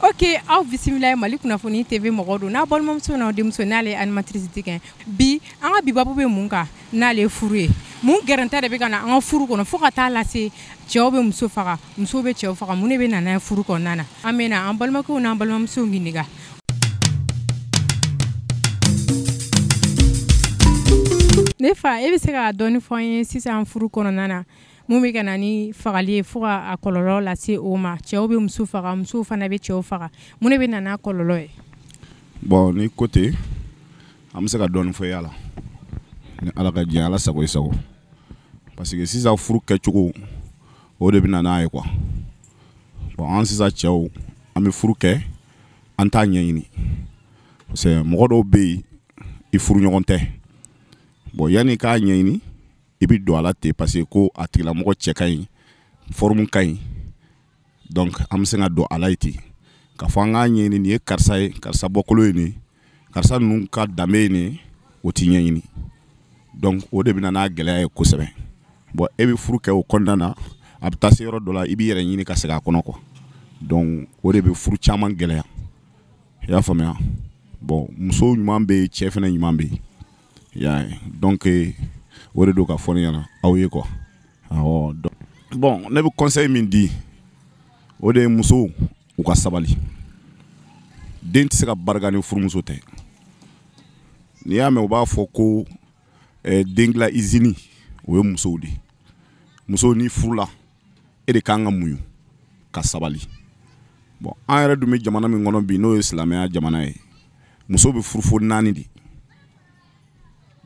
Oke aw bisimila ye mali kunnafoni TV mɔgɔ don n'a balimamuso n'a denmuso n'ale ye animatrice tigɛ bi an ka bi babu bɛ mun kan n'ale ye furu ye mun gɛrɛntɛ de bɛ ka na an ka furu kɔnɔ fo ka taa a lase cɛw bɛ muso faga musow bɛ cɛw faga mun de bɛ na n'a ye furu kɔnɔna na an bɛ na an balimakɛw n'an balimamusow ɲininka ne fa e bɛ se k'a dɔɔni fɔ an ye sisan furu kɔnɔna na mun bɛ ka na ni fagali ye fo ka a kɔlɔlɔ lase o ma cɛw bɛ muso faga musow fana bɛ cɛw faga mun de bɛ na n'a kɔlɔlɔ ye bon n'i ko ten an bɛ se ka dɔɔni fɔ y'a la ni ala ka diɲɛ ala sago i sago parce que sisan furu kɛcogo o de bɛ na n'a ye quoi bon an sisan cɛw an bɛ furu kɛ an t'a ɲɛɲini parce que mɔgɔ dɔw bɛ yen i furu ɲɔgɔn tɛ bon yanni i k'a ɲɛɲini i bɛ don a la ten parce que ko a tigilamɔgɔ cɛ ka ɲi forme ka ɲi donc an bɛ sin ka don a la yen ten k'a fɔ an k'a ɲɛɲini nin ye karisa ye karisa bɔkolo ye nin ye karisa ninnu ka danbe ye nin o tɛ ɲɛɲini donc o de bɛ na n'a gɛlɛya ye kosɛbɛ bon e bɛ furu kɛ o kɔnɔna na a bɛ taa se yɔrɔ dɔ la i b'i yɛrɛ ɲini ka sɛgɛn a kɔnɔ quoi donc o de bɛ furu caman gɛlɛya i y'a faamuya bon muso ɲuman bɛ yen cɛ fana ɲuman bɛ yen i y'a ye donc o de don ka fɔ ne ɲɛna aw ye quoi awɔ donc bon ne bɛ conseil min di o de ye musow u ka sabali den tɛ se ka barika ni furumuso tɛ n'i y'a mɛn u b'a fɔ ko eh, den dilan izini o ye musow de musow n'i furula e de ka kan ka muɲu ka sabali bon an yɛrɛ dun bɛ jamana min kɔnɔ bi n'o ye silamɛya jamana ye muso bɛ furu fo naani de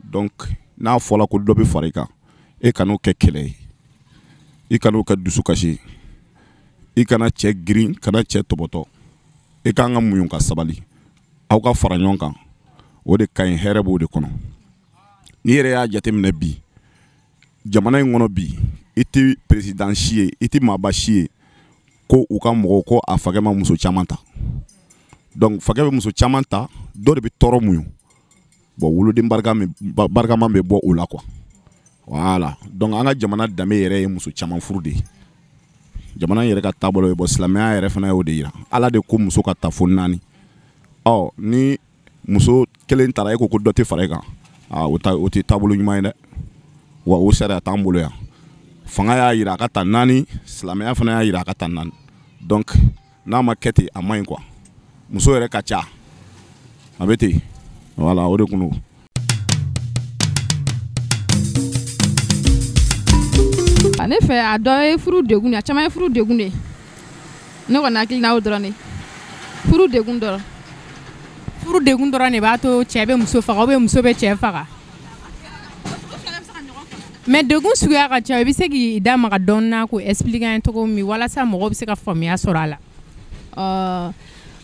donc n'a fɔra ko dɔ bɛ fara i kan e kan'o kɛ kɛlɛ ye i kan'o kɛ dusukasi ye i kana cɛ girin kana cɛ tɔbɔtɔ i kan ka muɲun ka sabali aw ka fara ɲɔgɔn kan o de ka ɲi hɛrɛ b'o de kɔnɔ n'i yɛrɛ y'a jateminɛ bi jamana in kɔnɔ bi i tɛ perezidan si ye i tɛ maaba si ye ko u ka mɔgɔw ko a fakɛ ma muso caman ta donc fakɛ bɛ muso caman ta dɔ de bɛ tɔɔrɔ muɲun bon woloden barikama bɛ bɔ o la quoi voilà donc an ka jamana danbe yɛrɛ ye muso caman furu de ye jamana yɛrɛ ka taabolo ye bon silamɛya yɛrɛ fana y'o de jira ala de ko muso ka ta fo naani ɔ ni muso kelen tara e ko ko dɔ tɛ fara e kan o tɛ taabolo ɲuman ye dɛ wa o sariya t'an bolo yan fanga y'a jira a ka ta naani silamɛya fana y'a jira a ka ta naani donc n'a ma kɛ ten a man ɲi quoi muso yɛrɛ ka ca a bɛ ten voilà o de kun don ne fɛ a dɔ ye furu degun de a caman ye furu degun de ne kɔni hakili na o dɔrɔn de furu degun dɔrɔn furu degun dɔrɔn de b'a to cɛ bɛ muso faga ou bien muso bɛ cɛ faga mais degun suguya ka ca i bɛ se k'i da maga dɔɔni na k'o expliquer an ye cogo min walasa mɔgɔ bɛ se ka faamuya sɔrɔ a la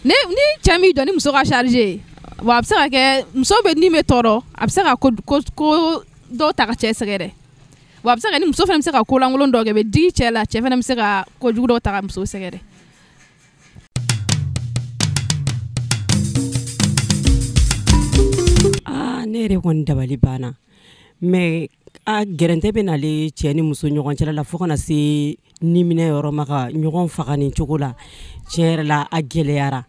ni cɛ min don ni muso ka sariyari wa a bɛ se ka kɛ muso bɛ ni bɛ tɔɔrɔ a bɛ se ka ko dɔw ta ka cɛ sɛgɛrɛ wa a bɛ se ka ni muso fana bɛ se ka ko lankolon dɔ kɛ bɛ digi cɛ la cɛ fana bɛ se ka ko jugu dɔ ta ka muso sɛgɛrɛ ne yɛrɛ kɔni dabali banna mais a gɛrɛntɛ bɛ nale cɛ ni muso ɲɔgɔn cɛla la fo kana se ni minɛ yɔrɔ ma ka ɲɔgɔn faga nin cogo la tiɲɛ yɛrɛ la a gɛlɛyara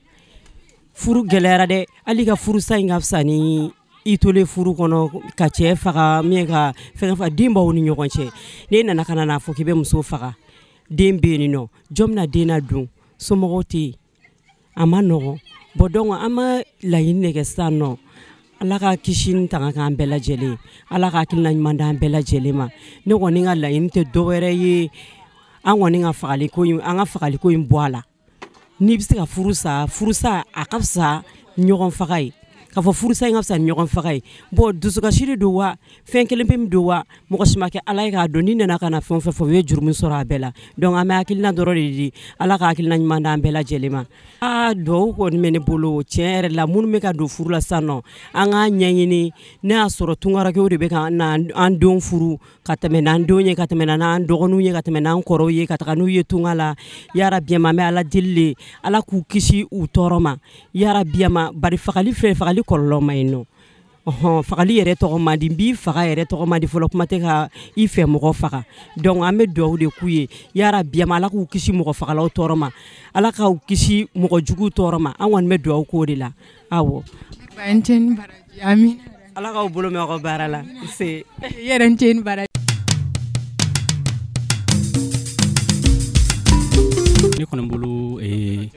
furu gɛlɛyara dɛ hali ka furusa in ka fisa ni i tolen furu kɔnɔ ka cɛ faga min ka fɛn faga den b'aw ni ɲɔgɔn cɛ n'e nana ka n'a fɔ k'i bɛ muso faga den bɛ yen nɔ jɔn bɛna den ladon somɔgɔw tɛ yen a man nɔgɔn bon donc an bɛ laɲini de kɛ sisan nɔ ala ka kisi ni tanga k'an bɛɛ lajɛlen ala ka hakilina ɲuman d'an bɛɛ lajɛlen ma ne kɔni ka laɲini tɛ dɔ wɛrɛ ye an kɔni ka fagaliko an ka fagaliko in bɔ a la n'i bɛ se ka furu sa furu sa a ka fisa ɲɔgɔn faga ye k'a fɔ furu sa in ka fisa ɲɔgɔn faga ye bon dusukasi de don wa fɛn kelen pe min don wa mɔgɔ si ma kɛ Ala ye k'a dɔn n'i nana ka na fɛn o fɛn fɔ u ye jurumu sɔrɔ a bɛɛ la donc an bɛ hakilina dɔrɔn de di Ala ka hakilina ɲuman d'an bɛɛ lajɛlen ma aa duwawu kɔni bɛ ne bolo tiɲɛ yɛrɛ la minnu bɛ ka don furu la sisan nɔ an k'a ɲɛɲini n'a y'a sɔrɔ tunkarankew de bɛ ka na an denw furu ka tɛmɛ n'an denw ye ka tɛmɛ n'an dɔgɔninw ye ka tɛmɛ n'an kɔrɔw ye ka taga n'u ye tunga la yarabi ma an bɛ ala deli de ala k'u kisi u tɔɔrɔ ma yarabi ma bari fagali fɛ fagali kɔlɔlɔ man ɲi nɔ ɔhɔn fagali yɛrɛ tɔgɔ man di n b'i faga yɛrɛ tɔgɔ man di fɔlɔ kuma tɛ ka i fɛ mɔgɔ faga donc an bɛ dugawu de k'u ye yarabi ma ala k'u kisi mɔgɔ fagalaw tɔɔrɔ ma ala k'u kisi mɔgɔ juguw tɔɔrɔ ma an kɔni bɛ dugawu k'o de la awɔ ala k'aw bolo mɛɛn aw ka baara la se yɛrɛ ni ce ni baraji ne kɔni bolo eh,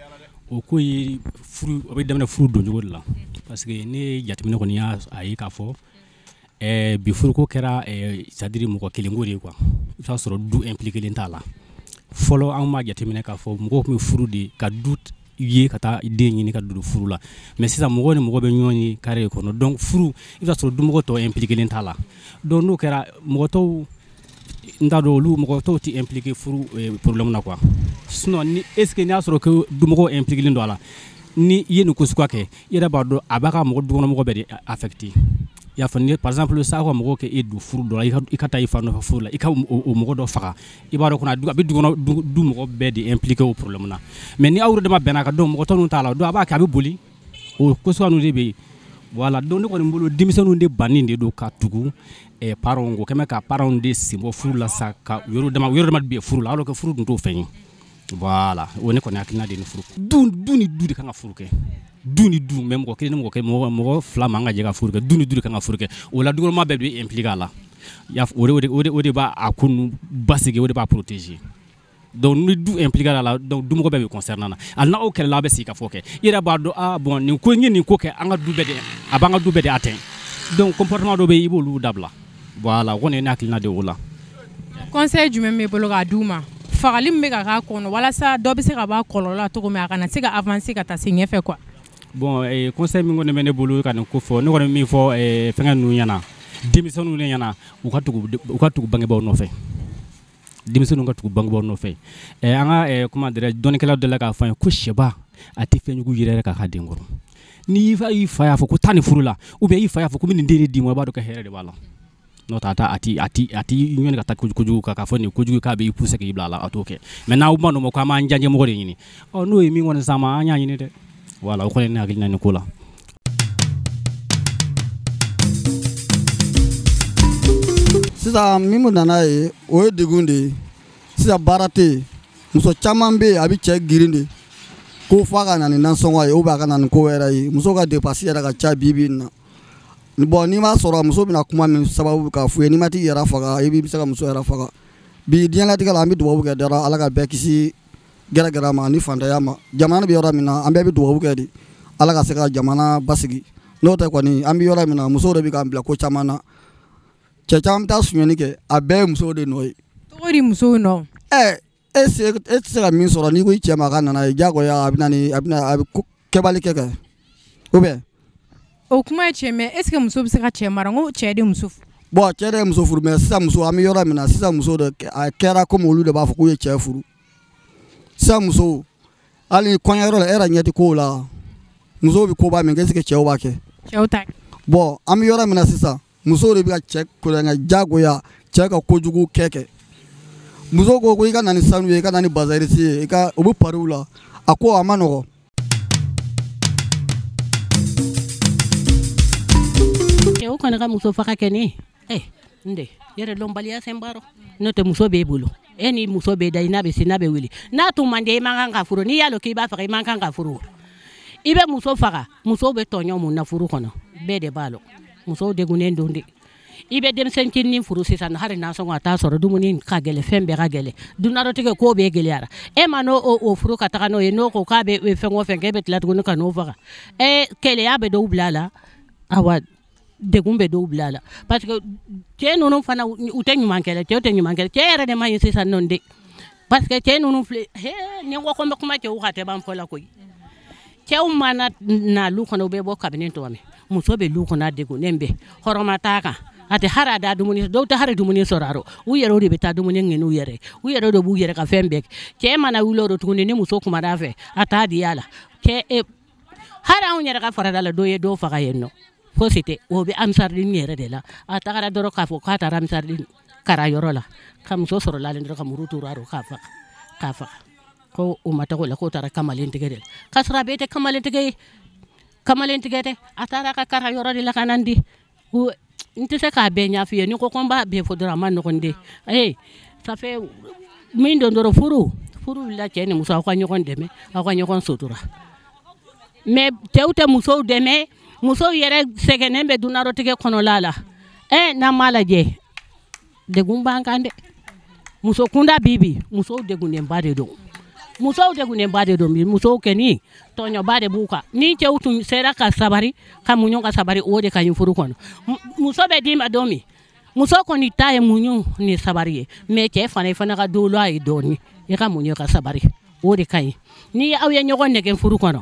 o ko ye furu o bɛ daminɛ furu doncogo de la parce que ne jateminɛ kɔni y'a ye k'a fɔ Ɛɛ bi furuko kɛra c'est-à-dire mɔgɔ kelen ko de ye quoi i y'a sɔrɔ du impliquélen t'a la fɔlɔ an b'a jateminɛ k'a fɔ mɔgɔ tun bɛ furu de ye ka du ye ka taa den ɲini ka don furu la mais sisan mɔgɔ ni mɔgɔ bɛ ɲɔgɔn ye carré kɔnɔ donc furu i y'a sɔrɔ dumɔgɔ tɔw impliquélen t'a la donc n'o kɛra mɔgɔ tɔw n t'a dɔn olu mɔgɔ tɔw tɛ impliqué furu problème na quoi sinon ni est ce n'i y'a sɔrɔ ko dumɔgɔ impliquélen don a la ni i ye nin ko suguya kɛ i yɛrɛ b'a dɔn a b'a ka mɔgɔ dukɔnɔmɔgɔ bɛɛ de affecté i y'a fɔ ni par exemple sisan aw ka mɔgɔw k'e don furu dɔ la i ka taa i fa nɔfɛ furu la i ka o mɔgɔ dɔ faga i b'a dɔn kɔni a bɛ du mɔgɔ bɛɛ de impliqué o problème na mais ni aw yɛrɛ dama bɛnna a kan donc mɔgɔ tɔ ninnu t'a la donc a b'a kɛ a bɛ boli o ko suguya ninnu de bɛ yen voilà donc ne kɔni bolo denmisɛnninw de bannen de don ka tugu eh, parents kɔ comment ka parents de sen bɔ furu la sa ka yɛrɛ dama yɛrɛ dama de bɛ furu la alors que furu tun t'o fɛn ye Voilà o ne kɔni hakilina de ye nin furu ko dun du ni du de kan ka furu kɛ du ni du mais mɔgɔ kelen ni mɔgɔ kelen mɔgɔ mɔgɔ fila man ka jɛ ka furu kɛ du ni du de kan ka furu kɛ o la dukɔnɔmaa bɛɛ b'i impliquer a la y'a o de o de o de b'a a ko ninnu basigi o de b'a protéger donc ni du impliquer a la donc dumɔgɔ bɛɛ bɛ concerner a la hali n'aw kɛlɛla aw bɛ sigi k'a fɔ kɛ i yɛrɛ b'a dɔn ah bon nin ko n ye nin ko kɛ an ka du bɛɛ de a b'an ka du bɛɛ de atteint donc comportement dɔ bɛ yen i b'olu dabila Voilà o kɔni ye ne hakilina de ye o la. Conseil jumɛn b'e bolo k'a di u ma? Fagali min bɛ ka k'a kɔnɔ walasa dɔ bɛ se ka bɔ a kɔlɔlɔ la cogo min a kana se ka avancer ka taa se ɲɛfɛ quoi. Bon ee conseil min kɔni bɛ ne bolo ka nin ko fɔ ne kɔni bɛ min fɔ ee fɛngɛ ninnu ɲɛna denmisɛnninw de ɲɛna u ka tugu u ka tugu bangebaaw nɔfɛ. denmisɛnninw ka tugu bangebaaw nɔfɛ eh, an ka eh, comment dirais dɔnnikɛla dɔ la k'a fɔ an ye ko sɛba a tɛ fɛn jugu yɛrɛk'a ka den kɔrɔ n'i fa y'a fɔ ko taa nin furu la ou bien i fa y'a fɔ ko n bɛ nin den de d'i ma i b'a dɔn ka hɛrɛ de b'a la n'o tɛ a t'a a t'i a t'i a t'i ɲɔni ka taa kojugu kan k'a fɔ nin kojugu k'a b'i pousser k'i bila a la a t'o kɛ mais n'aw ma n'o ma ko an b'an diyanyemɔgɔ de ɲini ɔ n'o ye min kɔni s'an ma an y'a ɲini dɛ voilà o kɔni ye ne hakilina nin ko la sisan min bɛ na n'a ye o ye degun de ye sisan baara tɛ yen muso caman bɛ yen a bɛ cɛ girin de ko f'a ka na ni nansɔngɔ ye ou bien a ka na ni ko wɛrɛ ye muso ka dépense yɛrɛ ka ca bi bi in na bon n'i m'a sɔrɔ muso bɛna kuma min sababu k'a f'u ye n'i ma t'i yɛrɛ faga i bɛ se ka muso yɛrɛ faga bi diɲɛlatigɛ la an bɛ dugawu kɛ dɔrɔn ala ka bɛɛ kisi gɛrɛgɛrɛ ma ni fantanya ma jamana bɛ yɔrɔ min na an bɛɛ bɛ dugawu kɛ de ala ka se ka jamana basigi n'o tɛ kɔni an bɛ yɔrɔ min na musow de bɛ k'an bila ko caman na cɛ caman bɛ taa sonyani kɛ a bɛɛ ye musow de nɔ ye. cogo di musow nɔ. ɛ e se e tɛ se ka min sɔrɔ n'i ko i cɛ ma k'a ka na n'a ye diyagoya a bɛna ni a bɛna a bɛ kɛbali kɛ kɛ ou bien. o kuma ye tiɲɛ mais est ce que muso bɛ se ka cɛ mara n ko cɛ de muso furu. bon cɛ de ye muso furu mais sisan muso an bɛ yɔrɔ min na sisan muso de a kɛra comme olu de b'a fɔ k'u ye cɛ furu. sa muso hali kɔɲɔyɔrɔ la e yɛrɛ ɲɛ tɛ kow la musow bɛ koba min kɛ est ce que cɛw b'a kɛ cɛw ta bon an bɛ yɔrɔ min na sisan musow de bɛ ka cɛ kolonkɛ jagoya cɛ ka kojugu kɛ kɛ muso ko ko i ka na ni sanu ye i ka na ni bazin riche ye i ka u bɛ pariw la a ko a ma nɔgɔn cɛw kɔni ka muso faga kɛ ne eh, n de yɛrɛdɔnbaliya sen b'a rɔ n'o tɛ muso b'e bolo e ni muso bɛ da i n'a bɛ si n'a bɛ wuli n'a tun man di i man kan ka furu n'i y'a dɔn k'i b'a faga i man kan ka furu i bɛ muso faga musow bɛ tɔɲɔ mun na furu kɔnɔ bɛɛ de b'a dɔn musow degunnen don de i bɛ denmisɛn cinin furu sisan hali nasɔngɔ a t'a sɔrɔ dumuni ka gɛlɛ fɛn bɛɛ ka gɛlɛ dunadɔtigɛ ko bɛɛ gɛlɛyara e man'o furu ka taga n'o ye n'o ko k'a bɛ fɛn o fɛn k'e bɛ tila tuguni ka n'o faga ɛ keleya bɛ dɔw bila a la awa degun bɛ dɔw bila a la parce que cɛ ninnu fana u tɛ ɲuman kɛla cɛw tɛ ɲuman kɛla cɛ yɛrɛ de man ɲi sisan nɔ de parce que cɛ ninnu filɛ ni n ko n bɛ kuma cɛw ka tɛ ban fɔ la koyi cɛw mana na lu kɔnɔ u bɛ bɔ kabini sɔgɔma muso bɛ lu kɔnɔ a degunnen bɛ hɔrɔma t'a kan a tɛ hali a da dumuni dɔw tɛ hali dumuni sɔrɔ u yɛrɛ de bɛ taa dumuni ɲini u yɛrɛ u yɛrɛ de b'u yɛrɛ ka fɛn bɛɛ cɛ mana wuli o rɔ tuguni ni muso kumara a fɛ a t'a di a la e hali anw yɛrɛ ka farada la dɔ ye dɔ faga yen nɔ fosi tɛ o bɛ amisaridimu yɛrɛ de la a tagara dɔrɔn k'a fɔ k'a taara amisaridimu kara yɔrɔ la ka muso sɔrɔ lalen dɔrɔn ka muru turu a rɔ k'a faga ko o ma taga o la k'o taara kamalen tigɛ de la k'a sɔrɔ a bɛɛ tɛ kamalen tigɛ ye kamalen tigɛ tɛ a taara ka kara yɔrɔ de la ka na di n tɛ se k'a bɛɛ ɲɛf'i ye ni n ko ko n b'a bɛɛ fɔ dɔrɔn a ma nɔgɔn dɛ ee ça fait min don dɔrɔn furu furu wulila cɛ ni muso aw ka ɲɔgɔn dɛmɛ aw ka ɲɔgɔn sutura mais cɛw tɛ musow dɛmɛ musow yɛrɛ sɛgɛnnen bɛ dunarɔtigɛ kɔnɔla la ɛ n'an b'a lajɛ degun b'an kan dɛ muso kunda bi bi musow degunnenba de don musow degunnenba de don bi musow kɔni tɔɲɔba de b'u kan ni cɛw tun sera ka sabari ka muɲu ka sabari o de ka ɲi furu kɔnɔ muso bɛ d'i ma don min muso kɔni ta ye muɲu ni sabari ye mais cɛ fana i fana ka dolo a ye dɔɔni i ka muɲu ka sabari o de ka ɲi ni aw ye ɲɔgɔn nɛgɛ furu kɔnɔ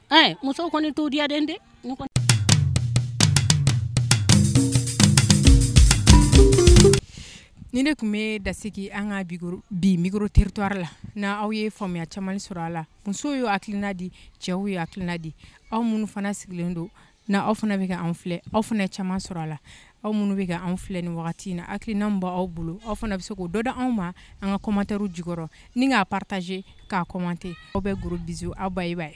ɛɛ muso kɔni t'o diya den de nin de tun bɛ dasigi an ka bi micro territoire la na aw ye faamuya caman sɔrɔ a la musow ye hakilina di cɛw ye hakilina di aw minnu fana sigilen don n'aw fana bɛ ka anw filɛ aw fana ye caman sɔrɔ a la aw minnu bɛ ka anw filɛ ni wagati in na hakilina min b'aw bolo aw fana bɛ se k'o dɔ da anw ma an ka commentaire jukɔrɔ ni k'a partager k'a commenter aw bɛ gros bisous aw bye bye